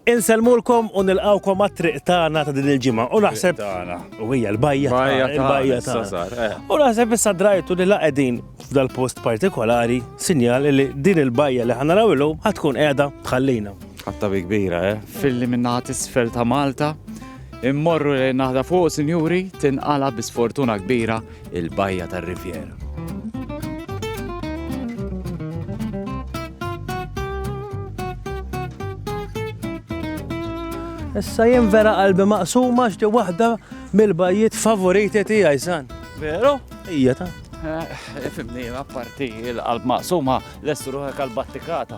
Insellmulkom u nilqgħukom għat-triq tagħna ta' din il-ġimgħa u naħseb tagħna u hija l-bajja l-bajja tagħna. Eh. U naħseb issa drajtu li la qegħdin f'dal-post partikolari sinjal li din il-bajja li ħanaraw illum ħad tkun qiegħda tħallina. Ħatta bi kbira, eh? Filli minna isfel ta' Malta, immorru li naħda fuq sinjuri tinqala bi sfortuna kbira il-bajja tar-Rivjera. Issa jien vera qalbi maqsuma xti waħda mill-bajjiet favoriti tiegħi san. Veru? Ija ta'. Eh, Fimni, apparti il-qalb maqsuma l-estruħek għal-battikata.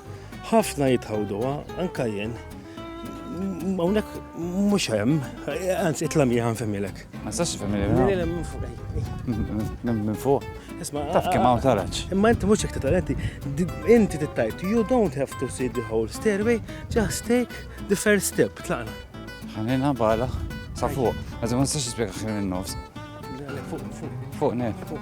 Ħafna jitħawduha, anka jien. Hawnhekk mhux hemm, anzi itla' miegħi nfemmilek. Ma sax nfemmilek. Minn fuq. Isma' taf kemm hawn taraġ. Imma inti mhux hekk titalenti, inti tittajt, you don't have to see the whole stairway, just take the first step, tlaqna. Ħanina bala, sa fuq. Għazim ma nistax nispjega ħin in-nofs. Fuq, fuq. Fuq, ne. Fuq.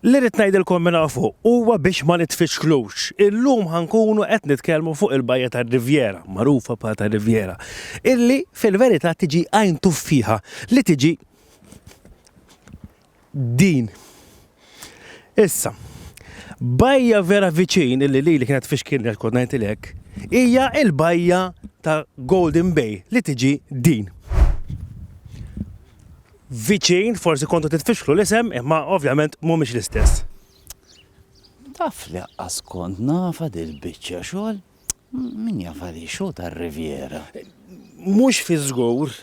Li rrit ngħidilkom minn fuq huwa biex ma nitfixklux. Illum ħankunu qed nitkellmu fuq il-bajja tar-Rivjera, magħrufa pa tar-Rivjera, illi fil-verità tiġi għajn tuffiħa li tiġi din. Issa, bajja vera viċin illi li li kienet fixkil li kont ngħidilek, hija l-bajja ta' Golden Bay li tiġi din. Viċin, forsi kontu titfixklu l-isem, imma ovvjament mhumiex l-istess. Taf li aqqas kont nafa dil-biċċa xogħol min jafali xogħol tar-Riviera. Mhux fi żgur,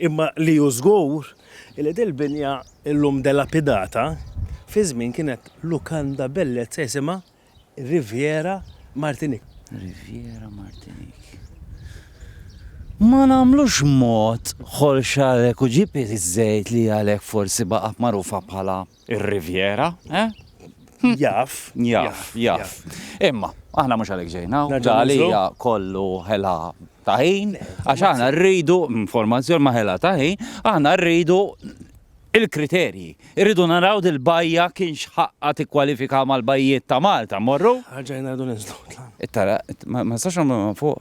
Imma li hu żgur hi li dil-binja llum delapidata, fi żmien kienet lukanda bellezza jisimha Riviera Martinique. Riviera Martinique. Ma nagħmlux mod Xorxa Recujipi iż-żejt li għalhekk forsi baqgħet magħrufa bħala Ir-Riviera, eh? Jaf. Jaf, jaf. Imma, aħna mhux għalhekk ġejna, għalija kollu ħela taħin, għax aħna rridu, informazzjoni ma ħela taħin, aħna rridu il-kriterji. Irridu naraw dil-bajja kien xħaqqa tikkwalifika mal-bajjiet ta' Malta, morru? Għagġajna għadu nizlu. Tara, ma sax ma fuq,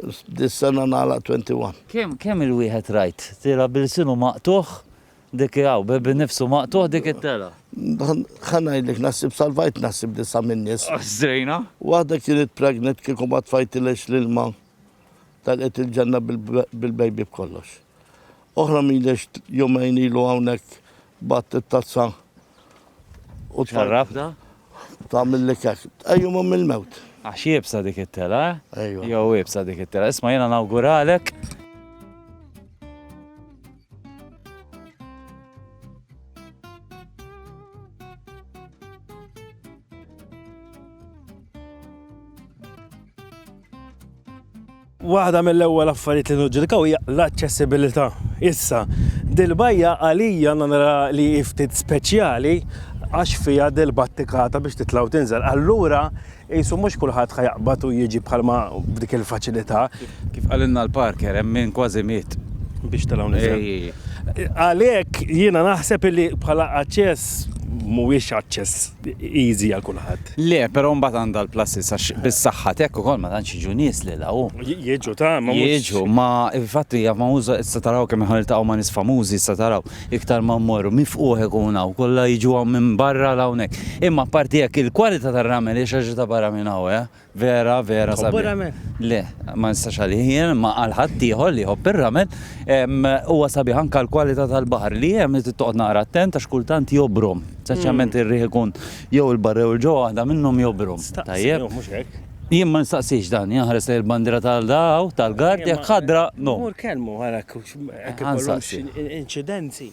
Dis-sena nagħlaq 21. Kemm kemm il-wieħed rajt tela' b'ilsinu maqtugħ dik hi hawn, bi nifsu maqtugħ dik it-tela'. Ħa ngħidlek naħsib salvajt naħsib disa' min-nies. Żejna. Waħda kienet pregnant kieku ma tfajtilhiex l-ilma talqet il-ġenna bil-baby b'kollox. Oħra mhiliex jumejn ilu hawnhekk batt it-tazza u tfarrafna. Ta' mill kek. Ejju ma mill-mewt. Għax jibsa dik it-tela, eh? Ejju. Jew jibsa dik it-tela. Isma jena nawguralek. Waħda mill-ewwel affarijiet li niġġudikaw hija l-aċċessibilità. Issa, dil-bajja għalija nara li hi ftit speċjali għax fiha dil-battikata biex titla' u tinżel. Allura qisu mhux kulħadd ħa jaqbad u jiġi bħalma b'dik il-faċilità. Kif qalilna l-parker hemm min kważi miet. Biex tela' u niżel. Għalhekk jiena naħseb illi bħala aċċess mhuwiex aċċess easy għal kulħadd. Le, però mbagħad għandha l-pluses għax bis-saħħa t'hekk ukoll ma tantx jiġu nies lil hawn. Jiġu ta' ma mhux. Jiġu, ma infatti hija famuża issa taraw kemm aħna niltaqgħu ma' nies famużi issa taraw iktar ma mmorru mifqugħ ikun hawn kollha jiġu hawn minn barra 'l hawnhekk. Imma apparti hekk il-kwalità tar-ramel hija xi ħaġa ta' barra minn hawn, eh! Vera, vera Tħobbu sabiħ. r-ramen? Le, ma nistax għalih jien, ma għal ħaddieħor li jħobb ir-ramen. Ehm, Huwa sabiħ anke l-kwalità tal-baħar li hemm li trid toqgħod naqra attent għax kultant jobrom. Speċjalment ir-riħ ikun jew il-barra jew il-ġewwa waħda minnhom jobrom. Staqsi, Tajjeb. jew mhux hekk. Jien ma nistaqsix dan, jien nħares lejn il-bandiera tal da hawn, tal-gard, jekk ħadra, no. Mur kellmu, ara, hekk ikollhomx Ħansaqsi. inċidenzi.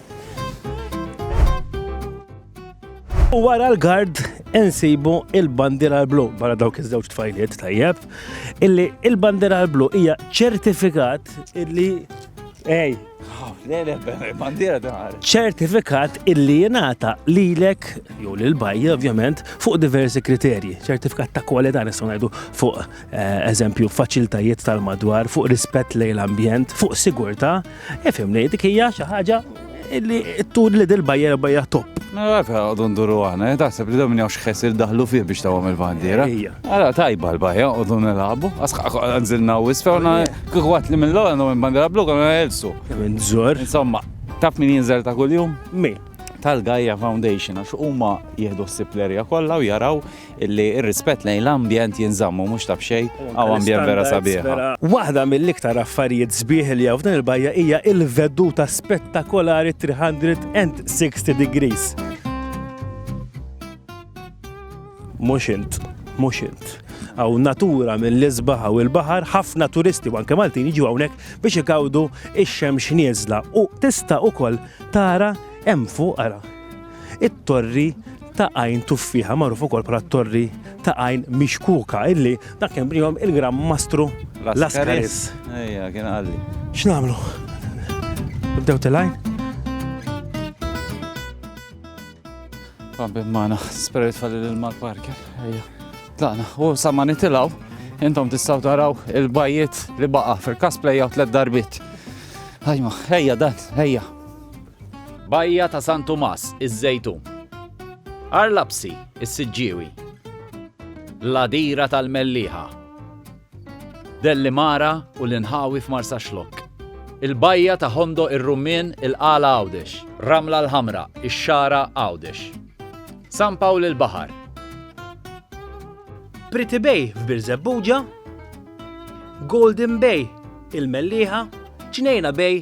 U wara l-gard insibu il-bandira l-blu, barra dawk iż-żewġ tfajliet tajjeb, illi il-bandira l-blu hija ċertifikat illi ej, ċertifikat illi jenata lilek, jew lil bajja ovvjament, fuq diversi kriterji. ċertifikat ta' kwalità nistgħu ngħidu fuq Eh, eżempju, faċiltajiet tal-madwar, fuq rispett lejn l-ambjent, fuq sigurta, efim li dik hija xi ħaġa li tur li dil-bajja bajja top. Mela, għafa għodun duru għana, eh, taħseb li domni għax xesir daħlu fih biex tawam il-bandira. Għala tajba l-bajja, għodun nil-għabu, għanżilna u isfawna, kħuħat li mill-għu għandu minn bandira blu għanna għelsu. Minn zor. Insomma, taf min jinżel ta' kull-jum? Min tal-Gaia Foundation għax huma jieħdu s-siplerja kollha u jaraw illi r-rispett lejn l-ambjent jinżamm u mhux ta' b'xejn hawn ambjent vera sabiħ. Waħda mill-iktar affarijiet sbieħ li hawn f'din il-bajja hija l-veduta spettakolari 360 degrees. Mhux int, mhux int. Hawn natura mill-isbaħ u l-baħar, ħafna turisti u anke Maltin jiġu hawnhekk biex igawdu x-xemx nieżla u tista' ukoll tara hemm fuq ara it-Torri ta' Għajn Tuffieħa, magħruf ukoll bħala t-Torri ta' Għajn Mixkuka, illi dak kien bnihom il-Gran Mastru Lascaris. Ejja, kien qalli. X'nagħmlu? Nibdew tilgħin? Rabbi magħna, spirit falli lil mal-parker. Ejja. Tlaqna, u sa ma nitilgħu, intom tistgħu taraw il-bajiet li baqa' fil-kas play out tliet darbit. Ajma, ejja dan, ejja. Bajja ta' San Tumas, iż-Żejtun. Għarlabsi, is-Siġġiewi. L-Għadira tal-Mellieħa. Dellimara u l-inħawi f'Marsaxlokk. Il-Bajja ta' Ħondoq ir-Rummien, il-Qala Għawdex. Ramla l-Ħamra, ix-Xagħra Għawdex. San Pawl il-Baħar. Pretty Bay f'Birżebbuġa. Golden Bay, il-Mellieħa. Ġnejna Bay,